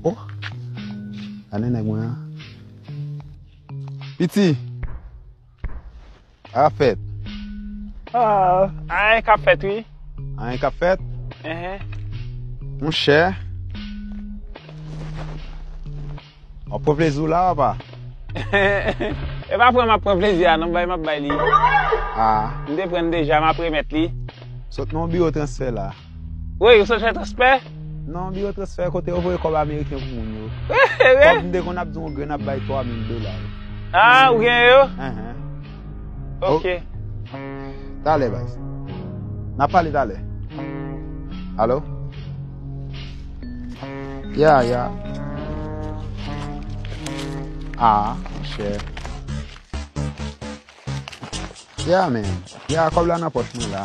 Oh Gade nèg mwen an Piti Sa kap fèt Oh Anyen kap fèt wi Anyen kap fèt Monchè Wap pran plezi w la apa E pa pran map pran plezi a non bay map bay li M te pran deja map remèt li Sot nan yon biwo transfè la. Woy ou sanjè transfè? Non biwo transfè kote yo voye kòb ameriken pou moun yo. Kòb m te konn ap di yon grenn ap bay 3000 dola yo. Ah ou gen yo? Uh-huh. Ok. Talè baz. Nap pale talè. Allo? Ya ya. Ah, chè. Ya men. Ya kòb la nan pòch mwen la.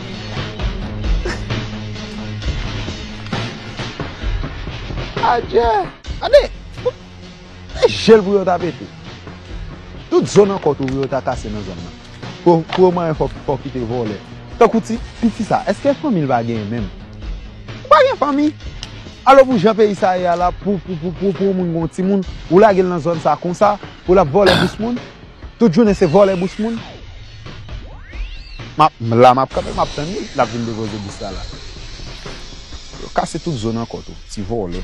Adje! Gade! Se jel pou yo ta pete. Tout zo nan kò tou pou yo ta kase nan zòn nan. Pou yo manyen fòk fòk kite vòlè. Tankou ti piti sa, eske fanmi l pa genyen menm? Ou pa gen fanmi? Alò pou jan peyi sa ye a la pou pou pou pou pou yon moun gen yon timoun, ou lage l nan zòn sa konsa pou l ap vòlè bous moun? Tout jounen se vòlè bous moun. Map la map kanpe map tann li lap vin depoze bous la la. Yo kase tout zo nan kò tou ti vòlè.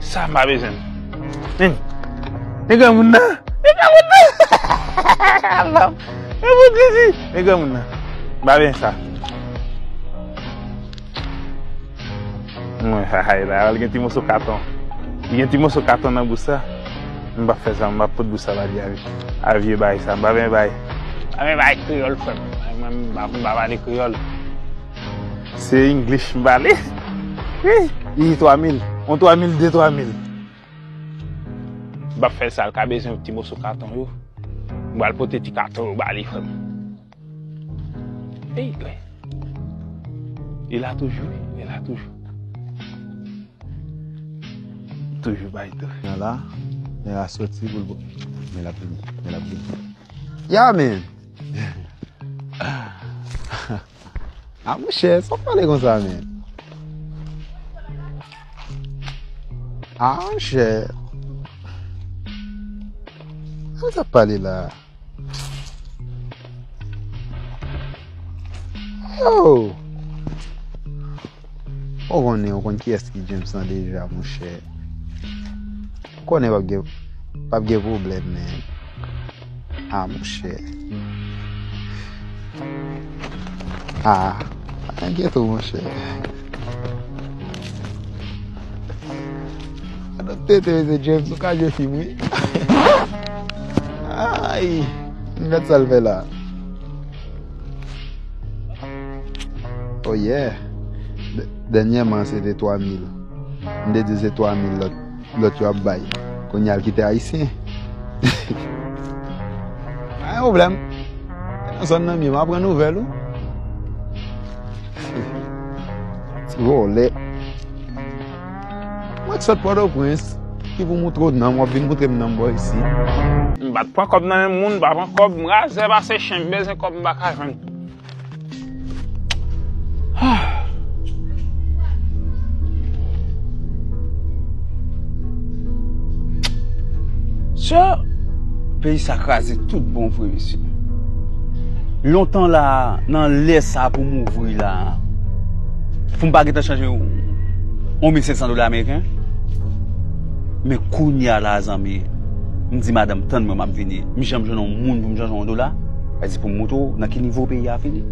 Sa m pa bezwen. Men granmoun nan. Men granmoun nan. Mwen fout sezi. Men granmoun nan. M pa bezwen sa. Hay la. Li gen ti moso katon. Li gen ti moso katon nan bouch sa. M pa fè sa. M pa pot bouch sa ba li avè. A vye bay sa. M pa bezwen bay. M pa bezwen bay kreyòl frè m. M pa pale kreyòl. Se English m pale. Ii 3000, on 3000 de 3000. Bab fè sa l ka bezwen pou ti moso katon yo. M pral pote ti katon yo ba li frè m. Ii gwen. Li la toujou wi, li la toujou. Toujou bay tou. Mè la, mè la soti pou l bo. Mè la vini, mè la vini. Ya men! Ah mon chè, sa w pale konsa men? Ah mon chè. Sa sa pale la? Yo! Ou konnen ou konn kiyès ki James lan deja monchè. Ou konnen pap gen pap gen pwoblèm men. A ah, monchè. A, ah, an gen tou monchè. Anon tete mese James ou ka jwe film wi. Ay, mwen sal fè la. Oh yeah! Dènyèman se te 3000. M te di se 3000 lòt lòt yo ap bay. Kounye a l kite ayisyen. Pa gen pwoblèm. Te nan zòn nan m ye m aprann nouvèl ou. Ti vòlè. Mwen t sot pòtoprens ki pou moutre w nanm wap vin moutre m nanm bò isit. M pa t pran kòb nan men moun, m pa pran kòb, m razè pase chen, m bezwen kòb m pa ka jwenn. Sè, peyi sa kraze tout bon vre mesye. Lontan la, nan lè sa pou m ouvri la. Pou m pa gentan chanje yon 1500 dola ameriken. Men kounya la zanmi, m di madanm tann mwen map vini. M janm jwenn yon moun pou m chanje yon dola. Mwen di pou m montre w nan ki nivo peyi a fini.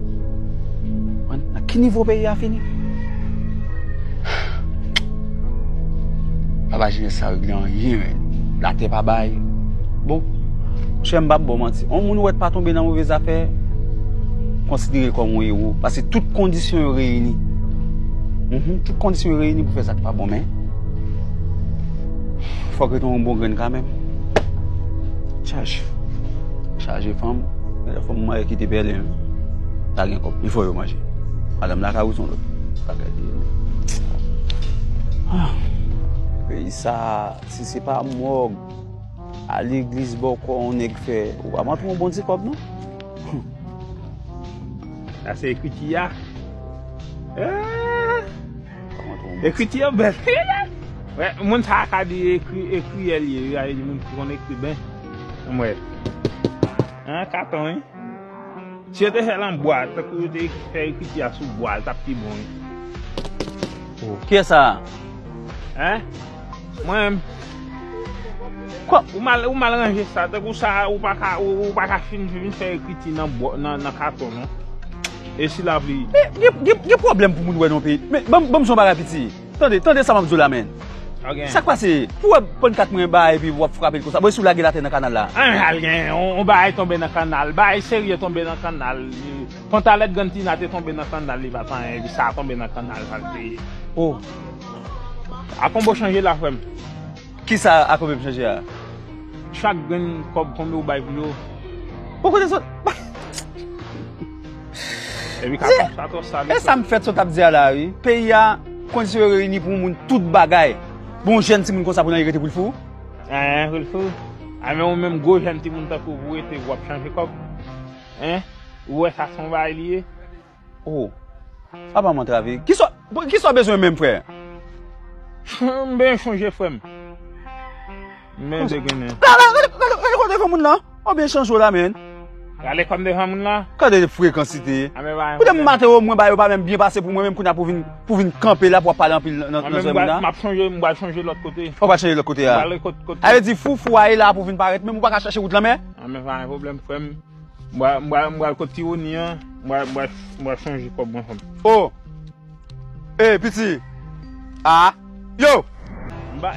Nan ki nivo peyi a fini. Papa Jimè sa regle anyen men. La te pa bay. Bon, chè m bab bon manti. On moun ou wè t pa tonbe nan move zafè, konsidere l kòm yon ewo. Tout kondisyon yo reyini. Tout kondisyon yo reyini pou fè sa k pa bon men. Fòk yo te yon bon grenn kanmenm. Chaj. Chaj e fanm. Mwen yon fanm mwen yon ki te bèl yon. Ta gen kòp. Yon fò yo manje. Alam la ka ou son lò. Pa kè di yon. Pè yon sa. Si se pa mòg. A li glis bò kò yon nèk fè. Ou pa mwen tou yon bon di kòp non. Humm sa se ekriti ya Eehh ekriti yo bèl Wè moun sa ka di ekriyè li ye wi a e di moun ki konn ekri byen Anm wè An katon wi Si yo te fèl an bwa tankou yo te fè ekriti ya sou bwa li tap pi bon wi Kiyès sa a? Hein? Mwen menm. Ou mal ranje sa. Tankou sa a ou pa ka ou pa ka fin vin fè ekriti nan bò nan katon non. E si la vle. Gen pwoblèm pou moun wè nan yon peyi. Men banm banm di w yon bagay piti. Tande tande sa map di w la men. Ok. Sak pase? Pou wè pon kat mwen ba epi wap frape l konsa. Bon e si w lage l atè nan kanal la? An al gen yon bagay tonbe nan kanal. Bagay serye tonbe nan kanal. Pantalèt grann Tina te tonbe nan kanal li pat anyen epi sa a tonbe nan kanal sa l te ye. Oh. Akonbo chanje la frem. Kisa akonbo ap chanje a? Chak grenn kob konbe ou bay pou yo. Bon kote sot. E sa m fèt sot ap di a la wi. Peyi a kondisyon yo reyini pou moun tout bagay. Pou yon jèn ti moun konsa pou nan li rete pou l fou? Eeh pou l fou? A men ou menm gwo jèn ti moun tankou ou pou rete wap chanje kob? Hein? Ou wè sa son bagay li ye? Oh sa pa m antrave. Kisa w bezwen menm frè? M byen chanje frè m. M byen degennen. Gade kòm devan moun lan. Ou byen chanje w la menn. Gade kòm devan moun lan. Gade frekansite. Pou de m maten yo mwen ba yo pa menm byen pase pou mwen menm kounya pou w vin kanpe la pou wap pale anpil nan zòrèm moun la. M ap chanje, m bal chanje lòt kote. Ou bal chanje lòt kote a. M bal chanje lòt kote a. A vle di foufou a e la pou vin parèt menm ou pa ka chanje wout lan menm? An men pa gen pwoblèm frè m. M pral kot Tironi an, m pral chanje kòb mwen fanmi. O! E piti! A! Yo!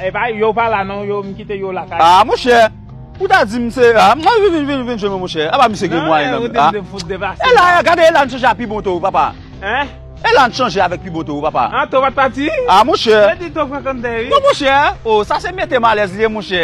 E pa yo pa la non, yo m kite yo lakay. A monchè! Ou ta di m se a, mwen vin vin vin vin jwenn mwen monchè. Apa misye gen mwayen menm. Nan e ou te fout devase la. E la, gade e la n chanje a pi bon to papa. Hein? E la n chanje avèk pi bon to papa. A to pat pati? A monchè! Yo di to frekante wi. Non monchè! O sa se mete m alèz li ye monchè.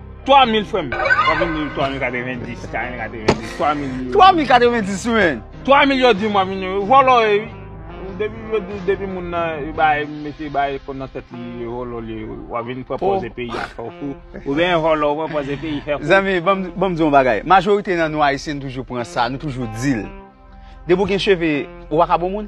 3000 frèm wap vin di 3090 4090 3000 yo 3090 men 3000 yo dim wap vin di vòlò e depi yo di depi moun nan yo bay mesye yo bay fon nan tèt li yo vòlò li wap vin pran pòze peyi a fè w fou ou byen vòlò ou pran pòze peyi fè fou zanmi banm di yon bagay majorite nan nou ayisyen nou toujou pran sa nou toujou dil depi w gen cheve ou paka bon moun.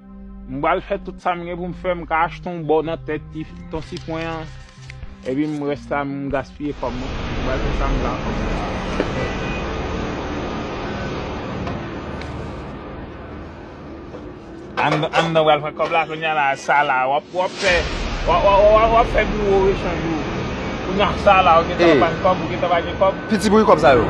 M pral fè tout sa m gen pou m fè, m ka achte yon bò nan tèt Ton Sifwen an, epi m rès la m gaspiye kòb mwen. M pral fè sa m ka kòb mwen. Anndan pral pran kòb la kounya la, sa la w ap fè, w ap fè biwo rechanj ou. Kounya sa la ou gen tan pa gen kòb, ou gen tan pa gen kòb. Piti bri kòb sa yo.